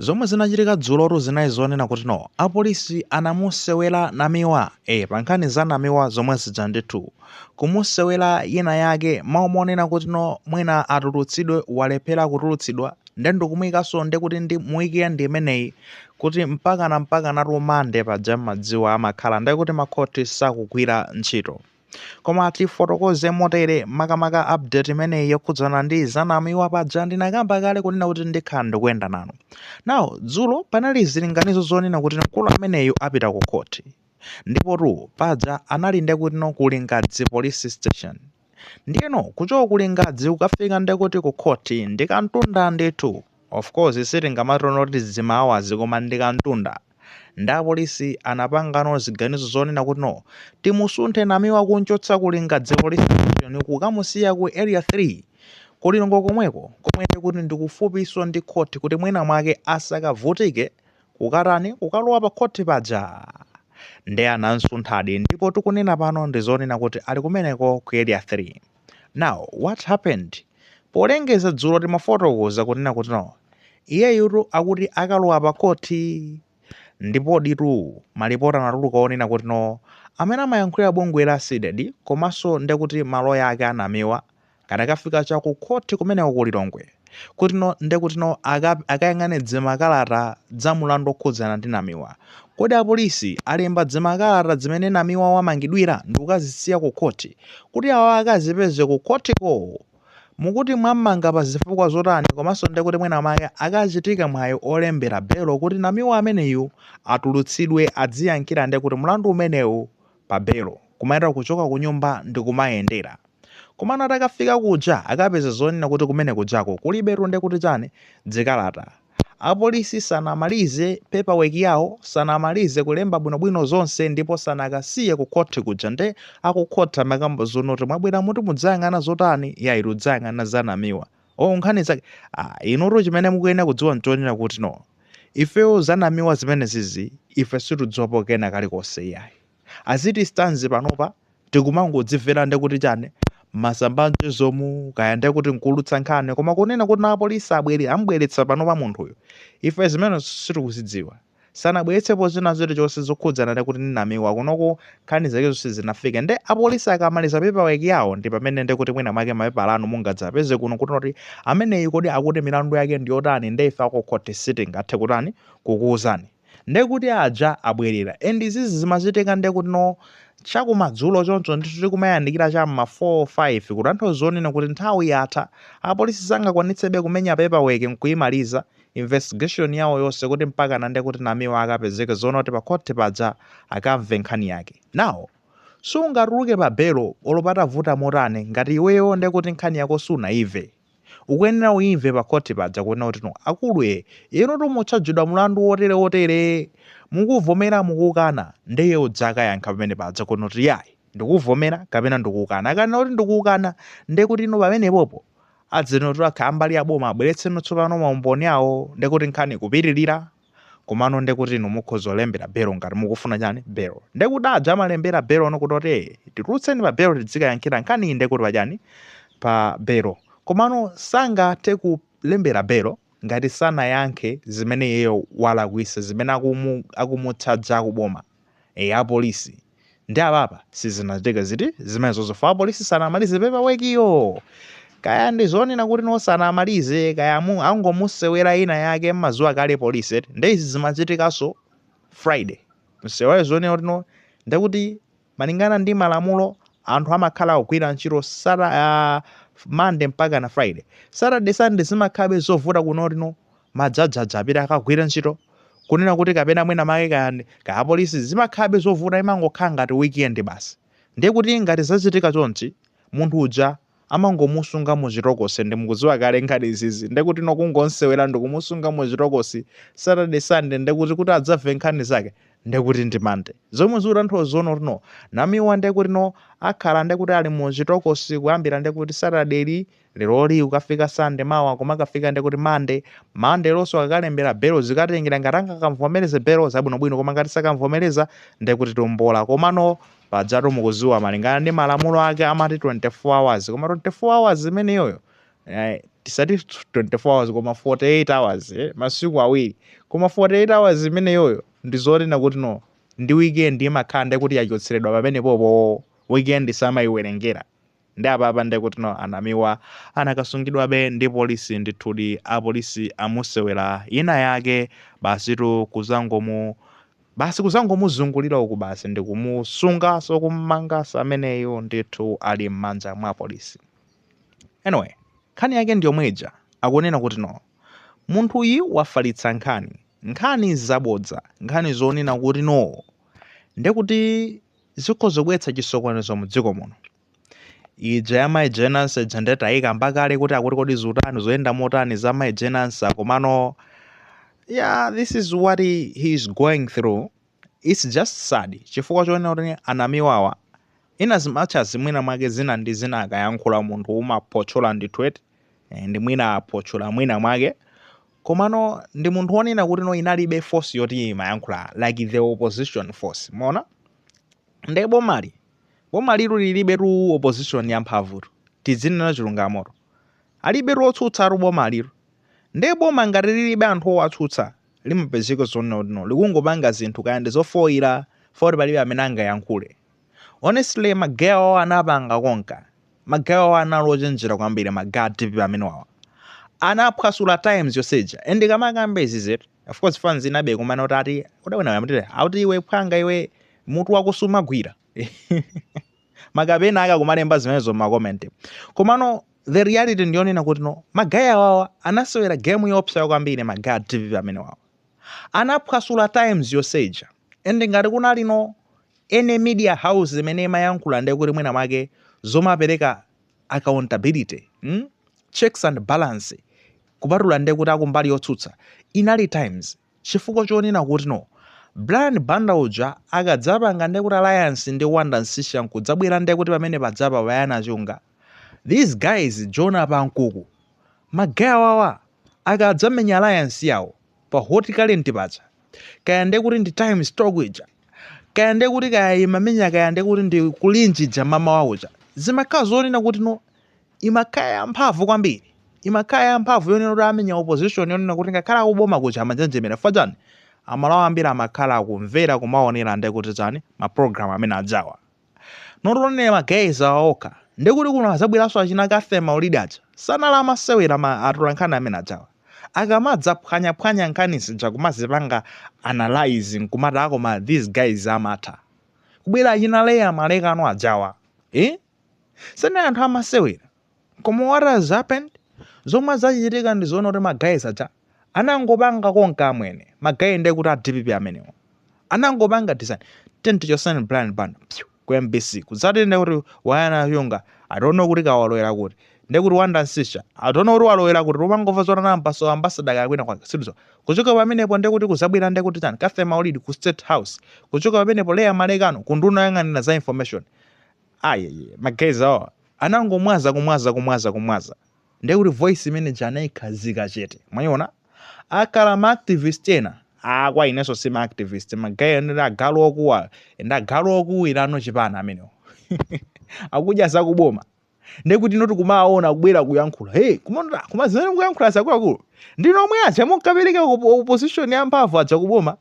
Zomwe zinachitika dzulotu zinali zonena kuti no apolisi anamusewera namiwa eh pankhani za namiwa zomwe zija ndithu kumusewera yina yake mwa umo monena kuti no mwina atulutsidwe walephera kutulutsidwa nde ndikumuikanso ndikuti ndi mu weekend imeneyi kuti mpakana mpakanatu Monday paja mmadziwa amakhala nde kuti makhothi sakugwira ntchito Koma tifotokoze motere, makamaka update imeneyi yokhudzana ndi za Namiwa paja ndinakamba kale kunena kuti ndikhala ndikuyenda nanu. Now, dzulo panali zilinganizo zonena kuti mkulu ameneyu apita ku khoti. Ndipotu paja anali nde kutino ku Lingadzi Police Station. Ndiyeno kuchoka ku Lingadzi kukafika nde kuti ku khoti ndi kamtunda ndithu. Of course sitingamati kuti dzimaawazi koma ndi kamtunda. Nde apolisi anapangano ziganizo zonena kuti no timusunthe Namiwa kumchotsa ku Lingadzi Police Station kukamusiya ku Area 3 ku Lilongwe komweko komwe ndekuti ndikufupiso ndi khoti kuti mwina mwake asakavutike kukatani kukalowa pa khoti paja. Nde anamsunthadi ndipo tikunena pano ndizonena kuti ali kumeneko ku Area 3. now what happened polengeza dzulo timafotokoza kunena kuti no iyeyutu akuti akalowa pa khoti ndipo ditu malipoti anatuluka onena kuti no amene amayankhulira bungwe la CDEDI komanso ndekuti maloya ake a Namiwa kadakafika chakukhoti kumeneko ku lilongwe kutino nde kutino akayang'ane dzimakalata dza mulandu okhudzana ndi Namiwa. Kodi apolisi alemba dzimakalata dzimene Namiwa wamangidwira ndikukazisiya ku khoti kuti awa akazipeze ku khotiko? Mukuti mwammanga pa zifukwa zotani komanso nde kuti mwina mwake akachitika mwayi olembera belo kuti Namiwa ameneyu atulutsidwe adziyankhira nde kuti mulandu umenewu pa belo kumayendera kuchoka kunyumba ndikumayendera komano atakafika kuja akapeza zonena kuti kumene kujako kulibetu ndekuti chani dzikalata apolisi sanamalize paper work yawo sanamalize kulemba bwinobwino zonse ndipo sanakasiye ku khothi kuja nde akukhoti amakamba zonoti mwabweramuti mudzayang'ana zotani yayi tikudzayang'ana za namiwa oh nkhani zake ah, inutu chimene mukuyenera kudziwa nchonena kuti no ifeyo zanamiwa zimenezizi ife situdziwapo kena kalikonse iyayi as it stands panopa tikumangodzimvera nde kuti chani mmasamba a mchezomu kaya nde kuti nkuulutsa nkhani koma kunena kuti no apolisi abwere ambweretsa panopa munthuyo ife zimenezo sitikuzidziwa sanabweretsepo zina zilizonse zokhudzana nde kuti Namiwa kunoko nkhani zakezo sizinafike nde apolisi akamaliza paperwork yawo ndi pamene nde kuti mwina mwake mapepala anu mungadzapeze kuno kuti kuti ameneyu kodi akuti milandu yake ndi yotani nde ife akukhoti sitingathe kutani kukuwuzani nde kuti aja abwerera and izizi zimachitika nde kuti no chakumadzulo choncho ndithu tikumayandikira cha m'ma 4 5 kutanthauza zonena kuti nthawi yatha apolisi sangakwanitsebe kumenya paperwork nkuyimaliza investigation yawo yonse kuti mpakana nde kuti namiwa akapezeke zonena kuti pa khoti paja akamve nkhani yake now sungatuluke pa belo olo patavuta motani ngati iweyo nde kuti nkhani yako sunaimve ukuyenera uimve pa khoti paja kunena kuti no akulu e inu mukuchajidwa mulandu wotere wotere mukuvomera mukukana ndeye udzakayankha pamene paja kunena kuti yayi ndikuvomera kapena ndikukana akanena kuti ndikukana nde kuti inu pamenepopo Adzanena kuti akha ambali ya boma abweretseno tsopano ma umboni awo ndekuti nkhani ikupitilira komano ndekuti inu mukhoza kulembera belo ngati mukufuna chani belo ndekuti aja amalembera belono kuti oti ee titulutseni pa belo tidzikayankhira nkhaniyi ndekuti pa chani pa belo komano sangathe kulembera belo ngati sanayankhe zimene iyeyo walakwisa zimene akumu akumuchaja akuboma Eya apolisi ndi apapa sizinachitike ziti zimenezozo chifukwa apolisi sanamalize paperwork yo kaya ndi zonena kuti no sanamalize kaya mu angomusewera ina yake mumadziwa kale polisi eti nde izi zimachitikanso friday amsewere zonena kuti no ndekuti malingana ndi malamulo anthu amakhala akugwira ntchito sata uh, monday mpaka na friday saturday sunday zimakhalabe zovuta kunena kuti no majaji aja apite akagwire ntchito kunena kuti kapena mwina make kayani kaya polisi zimakhalabe zovuta imangokhala ngati weekend basi ndiye kuti ngati zachitika chonchi munthu uja amangomusunga muchitokosi ndi mukudziwa kale nkhani izizi ndiye kuti no kungomsewera ndikumusunga muchitokosi saturday sunday ndiye kuti kuti adzamve nkhani zake ndiye kuti ndi monday zomwe zikutanthauza zonena kuti no namiwa ndiye kuti no akhala ndiye kuti ali muchitokosi kuyambira ndiye kuti saturday li leroli kukafika sunday mawa kumakafika ndekuti monday monday lonso akakalembera belo zikatengera ngati angakamvomereze belo zabwinobwino koma ngati sakamvomereza ndekuti tombola komano pajatu mukudziwa malingana ndi malamulo ake amati 24 hours koma 24 hours imeneyoyo eh, tisati 24 hours koma 48 hours eh, masiku awiri koma 48 hours imeneyoyo ndi zonena kuti no ndi weekend imakhala ndekuti yachotseredwa pamenepopo weekend samayiwerengera Nde apapa nde kuti no a Namiwa anakasungidwabe ndi polisi ndithudi apolisi amusewera ina yake basitu kuzangomu basi kuzangomuzungulira uku basi ndikumusungaso kummangaso ameneyu ndithu ali mmanja mwa polisi anyway nkhani yake ndiyomwe ija akunena kuti no munthuyi wafalitsa nkhani nkhani zabodza nkhani zonena kuti no ndekuti zikhoza kubweretsa chisokonezo mu dziko muno. Ija ya Mai Jane Ansah ija ndiye tayikamba kale kuti akuti kodi zutani zoyenda motani za Mai Jane Ansah komano yeah this is what he, he is going through it's just sad chifukwa chonena kuti a Namiwawa ina zimatcha zimwina mwake zina ndi zina akayankhula munthu umaphotchola ndithu eti eh, ndi mwina aphotchola mwina mwake Komano ndi munthu wonena kuti no inalibe force yoti imayankhula like the opposition force. Mwaona? Nde bomali, bomalitu lilibetu opposition yamphamvutu. Tidzinena chilungamotu. Alibetu otsutsatu bomalitu. Nde boma ngati lilibe anthu owatsutsa, limapezeka zonena kuti no likungopanga zinthu kaya ndi zofoira, foti palibe amene angayankhule. honestly ma guy awawa anapanga konka ma guy awawa anali ochenjera kwambiri ma guy a dpp amene wawa anaphwasula times yonse ija and ndikamakamba izizitu of course fans inabe kumana kuti ati udawina yamtire auti iwe mphwanga iwe mutu wako sumagwira makapena aka kumalemba zimenezo mmakomenti komano the reality ndiyonena kuti no ma guy awawa anasewera game yoopsa kwambiri ma guy a dpp amene wawa Anaphwasula times yonse ija and ngati kunali no any media house imene imayankhula ndiye kuti mwina mwake zomapereka accountability mm? checks and balance kupatula ndiye kuti akumbali yotsutsa inali times chifukwa chonena kuti no Brian Banda uja akadzapanga ndiye kuti alliance ndi Wonder Msiska nkudzabwera ndiye kuti pamene pajapa Bayana Chunga these guys Jonah Pankuku ma guy awawa Akadzamenya alliance yawo pa Hot Current paja, kaya nde kuti ndi Times Talk ija, kaya nde kuti kaya imamenya kaya nde kuti ndi Kulinji ija m'mamawa kuja, zimakhala zonena kuti no imakhala ya mphamvu kwambiri, imakhala ya mphamvu yonena kuti amenya opposition yonena kuti ngakhale akuboma kuja amanjenjemera chifukwa chani, amalawi ambiri amakhala akumvera kumaonera nde kuti chani ma program amene ajawa. not only ma guys awa okha nde kuti kuno azabweranso achina Cathy Maulidi aja sanali amasewera ma atolankhani amene ajawa akamadzaphwanyaphwanya nkhani zija kumazipanga analyze nkumati ah koma these guys amatha kubwera achina Leah Malekano ajawa eh? sanali anthu amasewera Koma what has happened? Zomwe zachitika ndi zoona kuti ma guys aja anangopanga konka amwene. Ma guy ndiye kuti a DPP amenewo. Anangopanga design. Tenti chotsani Brian Banda. Phew, ku MBC. Kudzati ndiye kuti Bayana Chunga. I don't know kuti kaya walowera kuti. Ndiye kuti Wonder Msiska. I don't know kuti walowera kuti. Kumangomva zonena ambaso ambassador kaya kwina kwake. Sidizo. Kuchoka pamenepo ndiye kuti kuzabwera ndiye kuti chani. Cathy Maulidi ku State House. Kuchoka pamenepo Leah Malekano kunduna yoyang'anira za information. ayeye ma guys awa anangomwaza kumwaza kumwaza kumwaza ndiye kuti voice imene ija anayikhazika chete mwayiona akhala ma activist ena ah kwa inenso si ma activist ma guy ndi agalu okuwa ndi agalu okuwira no chipani amenewo akudya zakuboma ndiye kuti no tikumaona kubwera kuyankhula hey kumona koma zimene mukuyankhula zakuluakulu ndinu omwe aja munkapereka opposition ya mphamvu aja kuboma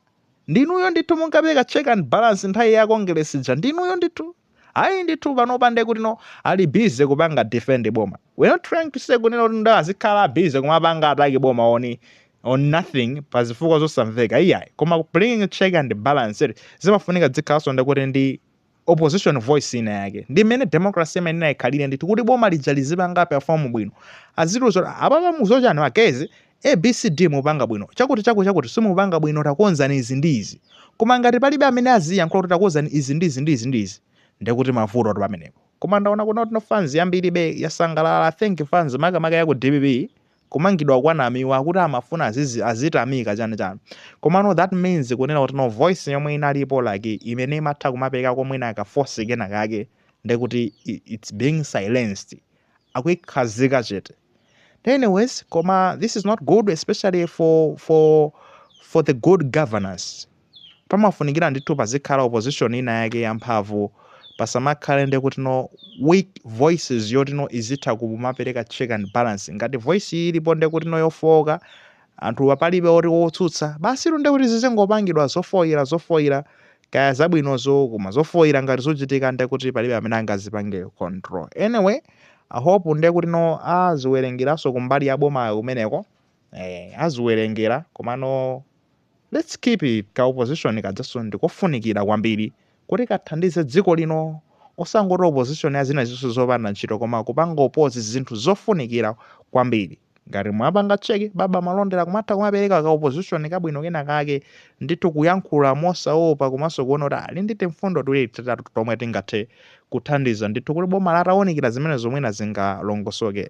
Ndinuyo ndithu munkapereka check and balance nthawi ya Kongeresi ija ndinuyo ndithu. Ayi ndithu panopa ndekutino ali busy kupanga defend boma. We're not trying to say kunena kutino azikhala busy kumapanga attack boma on on nothing pa zifukwa zosamveka iyayi koma bringing check and balance eti zimafunika dzikhalanso nde kuti ndi opposition voice ina yake ndi mmene democracy imayenera ikhalire ndithu kuti boma lija lizipanga perform bwino azitiuza kuti apapa mu za chani magezi abcd mupanga bwino chakuti chaku chakuti simupanga bwino takonzani izi ndi izi koma ngati palibe amene aziyankhula kuti takonzani izi ndi izi ndi izi ndi izi ndekuti mavutotu pamenepo koma ndaona kuti no fans yambiribe yasangalala i think fans makamaka ya ku dpp kumangidwa kwa Namiwa akuti amafuna azizi azitamika chani chani komano that means kunena kuti no voice yomwe inalipo like imene imatha kumaperekako mwina ka force kena kake ndekuti i- it's being silenced akuikhazika chete anyways koma this is not good especially for for for the good governance pamafunikira ndithu pazikhala opposition ina yake ya mphamvu, pasamakhale ndekutino weak voices yotino izitha kumapereka check and balance. Ngati voice iyi ilipo ndekutino yofooka, anthuwa palibe oti wotsutsa, basitu ndekuti zizingopangidwa zofoira zofoira, kaya zabwinozo, koma zofoira ngati zuchitika ndekuti palibe amene angazipange control. Anyway, I hope ndekutino aziwerengeranso kumbali ya bomayo kumeneko, eeh, aziwerengera, komano. Let's keep it ka opposition kajaso ndikofunikira kwambiri kuti kathandize dziko lino osangoti opposition ya zina zonse zopanda ntchito koma kupanga oppose zinthu zofunikira kwambiri ngati mwapanga check baba Malondera kumatha kumapereka ka opposition kabwino kena kake ndithu kuyankhula mosaopa komanso kuona kuti ali ndi timfundo tiwiri titatu tomwe tingathe kuthandiza ndithu kuti boma litawunikira zimenezo mwina zingalongosoke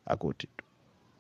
akuti